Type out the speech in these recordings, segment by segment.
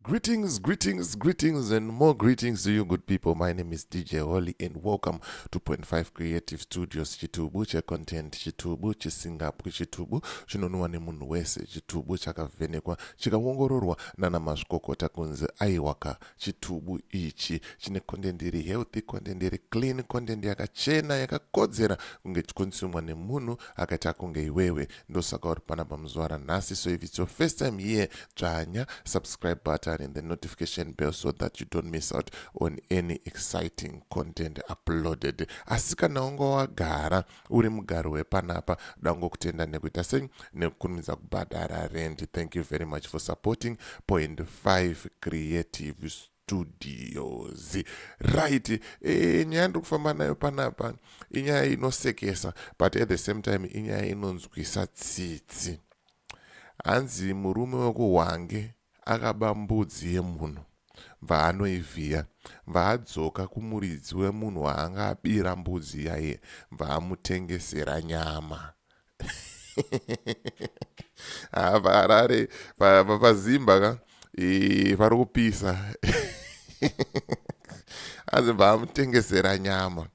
Greetings, greetings, greetings, and more greetings to you, good people. My name is DJ Holly, and welcome to Point Five Creative Studios. Chitubu che content, chitubu chisingapwi, chitubu chinonwiwa nemunhu wese, chitubu chakavhenekwa, chikaongororwa nana mazvikokota kunzi aiwaka. Chitubu ichi chine content iri healthy, content iri clean, content yakachena, yakakodzera kunge chichikonsumiwa nemunhu akaita kunge iwewe. ndosaka uri pana pamuzuva ranhasi so if its your first time here dzvanya subscribe button and the notification bell so that you don't miss out on any exciting content uploaded asi kana unga wagara uri mugaro wepanapa dangokutenda nekuita sei nekukurumidza kubhadhara rendi thank you very much for supporting point 5 creative studios right e, eh, nyaya ndiri kufamba nayo panapa inyaya inosekesa but at the same time inyaya inonzwisa tsitsi hanzi murume wekuhwange akaba mbudzi yemunhu bva anoivhiya bva adzoka kumuridzi wemunhu waanga abira mbudzi yaiye bva amutengesera nyama ah, paharare pazimba ka pari kupisa anzi baamutengesera nyama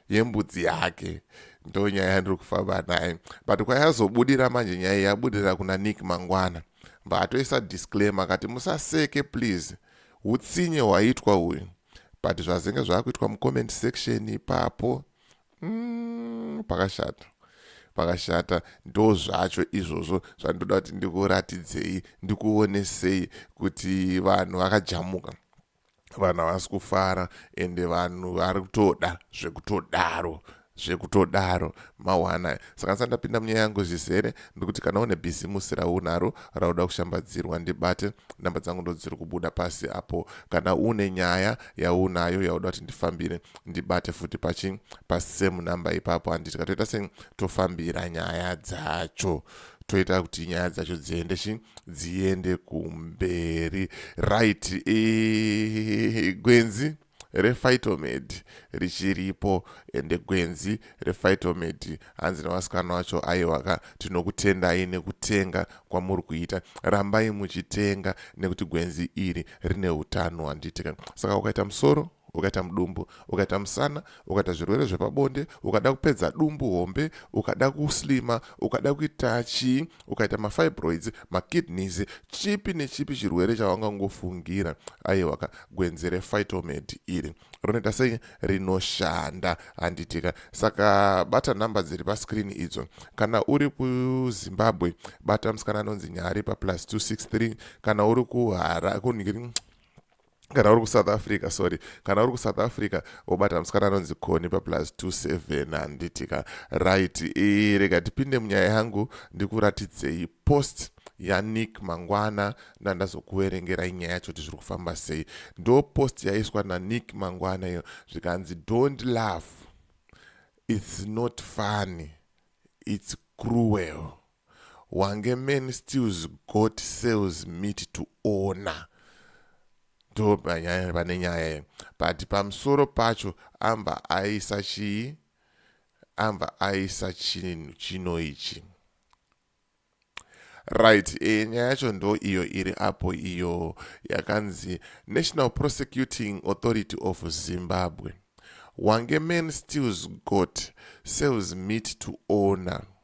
yembudzi yake ndo nyaya yandiri kufamba naye but kwayazobudira manje nyaya yabudira kuna nick mangwana mbaatoisa disclaimer akati musaseke please utsinye hwaitwa uyu but zvazenge zvaakuitwa mucomment section ipapo mm, pakashata pakashata ndo zvacho izvozvo zvandoda kuti ndikuratidzei ndikuonesei kuti vanhu vakajamuka vanhu havasi kufara ende vanhu vari kutoda zvekutodaro zvekutodaro mawana saka ndisati ndapinda munyaya yangu zvizere ndikuti kana une bhizimusi raunaro rauda kushambadzirwa ndibate namba dzangu ndodziri kubuda pasi apo kana une nyaya yaunayo yauda kuti ndifambire ndibate futi pachi pasame number ipapo handiti katoita sei tofambira nyaya dzacho toita kuti nyaya dzacho dziende chi dziende kumberi right e, gwenzi rephytomed richiripo ende gwenzi rephytomed hanzi nevasikana vacho aiwaka tinokutendai nekutenga kwamuri kuita rambai muchitenga nekuti gwenzi iri rine utano handitika saka ukaita musoro ukaita mudumbu ukaita musana ukaita zvirwere zvepabonde ukada kupedza dumbu hombe ukada kuslima ukada kuita chii ukaita mafibroids makidneys chipi nechipi chirwere chawangangofungira aiwaka gwenzi refitomad iri rinoita sei rinoshanda handitika saka bata nhamba dziri pascreen idzo kana uri kuzimbabwe bata musikana anonzi nyari paplus 263 kana uri kuhara kunhiri kana uri kusouth africa sorry kana uri kusouth africa wobata musikana anonzi koni paplus 27 handiti ka right e, rega tipinde munyaya yangu ndikuratidzei post yanick mangwana ndandazokuverengerai nyaya yacho kuti zviri kufamba sei ndo post yaiswa nanick mangwana iyo zvikanzi don't love its not funny its cruel wange men stills got sales meat to owner ndo panyaya pane nyaya iyi but pamusoro pacho amba aisa chii amba aisa chinhu chino ichi right e, nyaya yacho ndo iyo iri apo iyo yakanzi national prosecuting authority of zimbabwe wange man stills got sales meat to owner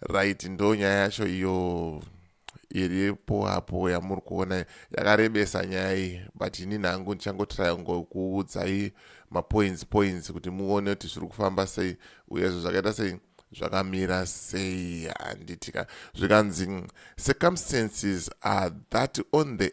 Right ndonyaya yacho iyo iripo apo yamuri kuona yakarebesa nyaya iyi but ini nhangu ndichangotraya ngokuudzai mapoints points kuti muone kuti zviri kufamba sei uyezvo zvakaita sei zvakamira sei handitika zvikanzi circumstances are that on the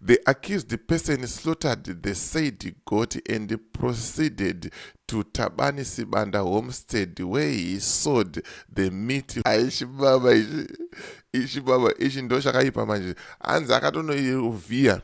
The accused person slaughtered the said goat and proceeded to Tabani Sibanda homestead where he sold the meat. Aishibaba ichi ishibaba ichi ndo chakaipa manje hanzi akatonoivhiya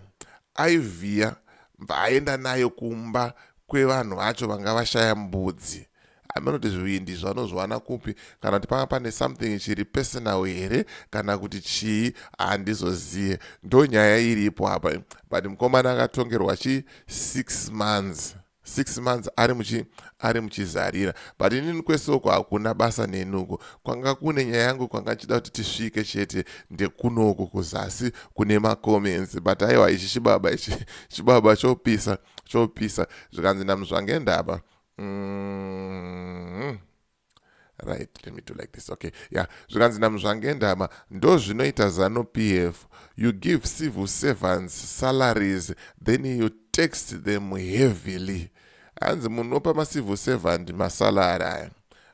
aivhiya bva aenda nayo kumba kwevanhu vacho vanga vashaya mbudzi hameno kuti zvivindi izvo anozviwana kupi kana kuti panga pane something chiri personal here kana kuti chii handizozive ndo nyaya iripo apa but mukomana akatongerwa chi six months six months ari muchi ari muchizarira but inini kwese uko hakuna basa nenuko kwanga kune nyaya yangu kwanga ndichida kuti tisvike chete ndekunoku kuzasi kune macomments but aiwa ichi chibaba ichi chibaba chopisa chopisa zvikanzi namuzvangendaba Mm-hmm. right let me do like this okay yeah zvikanzi namuzvange ndama ndozvinoita zanu pf you give civil servants salaries then you tax them heavily hanzi munopa macivil servant masalary aya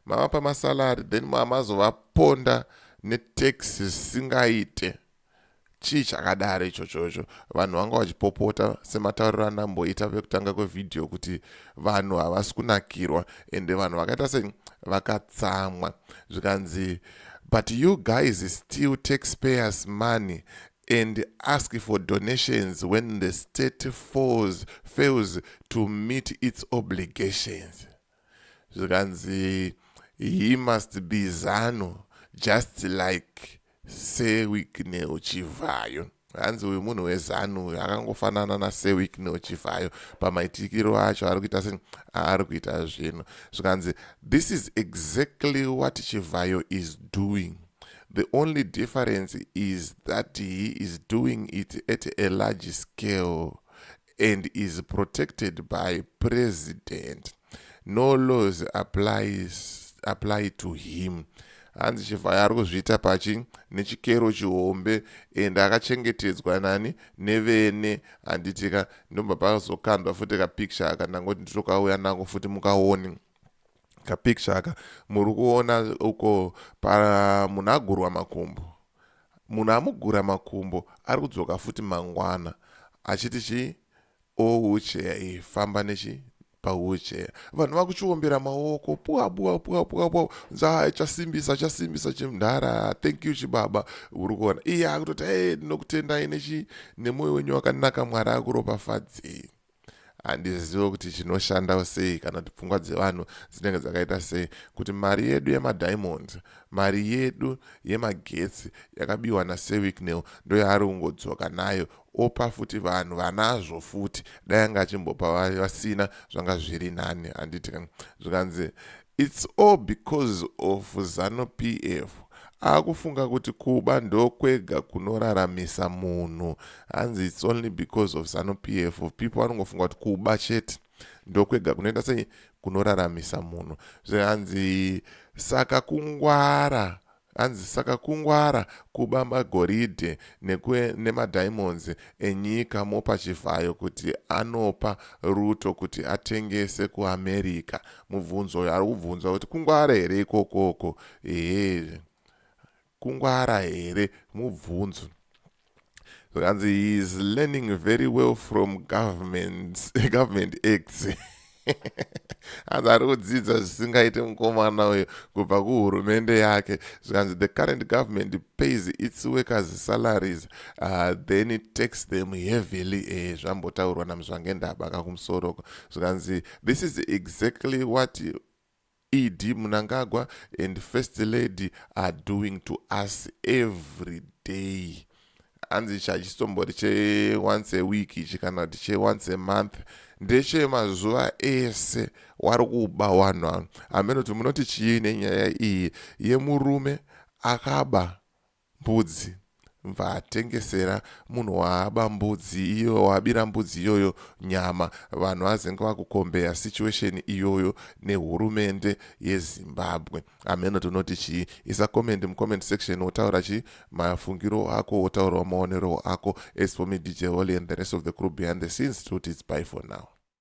mavapa masalary then maamazovaponda netax singaite chii chakadaro ichocho icho vanhu vanga vachipopota sematauriro andamboita vekutanga kwevhidhiyo kuti vanhu havasi kunakirwa ende vanhu vakaita se vakatsamwa zvikanzi but you guys still taxpayers money and ask for donations when the state falls, fails to meet its obligations zvikanzi he must be zanu just like sewicknel chivhayo hanzi uyu munhu wezanu uyu akangofanana nasewicknel chivhayo pamaitikiro acho ari kuita se aari kuita zvinhu zvikanzi this is exactly what chivhayo is doing the only difference is that he is doing it at a large scale and is protected by president no laws applies, apply to him hanzi chivhayo ari kuzviita pachi nechikero chihombe and akachengetedzwa nani nevene handitika ndobva pakazokandwa futi kapicture aka ndangoti nditokauya nako futi mukaone kapicture aka muri kuona uko pamunagurwa makumbo munhu amugura makumbo ari kudzoka futi mangwana achiti chii oucheya iyi famba nechi paucheya vanhu vakuchiombera maoko puwa puwa puwa puwa puwa nzaa chasimbisa chasimbisa chimdhara thank you chibaba uri kuona iye akutoti e ndinokutendai nechi nemwoyo wenyu wakanaka mwari akuropafadzei handizive kuti chinoshandawo sei kana kuti pfungwa dzevanhu dzinenge dzakaita sei kuti mari yedu yemadiamonds mari yedu yemagetsi yakabiwa nasewicknel ndoyaari kungodzoka nayo opa futi vanhu vanazvo futi dai anga achimbopa vasina zvanga zviri nani handiti zvikanzi It's all because of Zanu PF. Akufunga kuti kuba ndokwega kunoraramisa munhu. Hanzi it's only because of Zanu PF. People vanongofunga kuti kuba chete ndokwega kunoita sei kunoraramisa munhu. Zvahanzi saka kungwara Hanzi saka kungwara kuba magoridhe nemadiamonds enyika mopa Chivhayo kuti anopa Ruto kuti atengese kuAmerica. Mubvunzo uyo ari kubvunzwa kuti kungwara here ikokoko? Ehe kungwara here mubvunzo. zvikanzi he is learning very well from government government acts hanzi ari kudzidza zvisingaite mukomana uyo kubva kuhurumende yake zvikanzi the current government pays its workers salaries uh, then it takes them heavily e eh, zvambotaurwa namuzvangendaba kakumusoro ko zvikanzi this is exactly what ED Mnangagwa and first lady are doing to us every day hanzi ichi hachisimbori che once a week ichi kana kuti che once a month ndeche mazuva ese wari kuba wanhu anu hameno kuti munoti chii nenyaya iyi yemurume akaba Mbudzi. Bva atengesera munhu waaba mbudzi iyo waabira mbudzi iyoyo nyama vanhu vazenge vakukombeya situation iyoyo nehurumende yeZimbabwe. Hameno tinoti chii? Isa comment mucomment section wotaura chii mafungiro ako wotaurawo maonero ako as for me DJ Holy and the rest of the crew behind the scenes tinoti it's bye for now.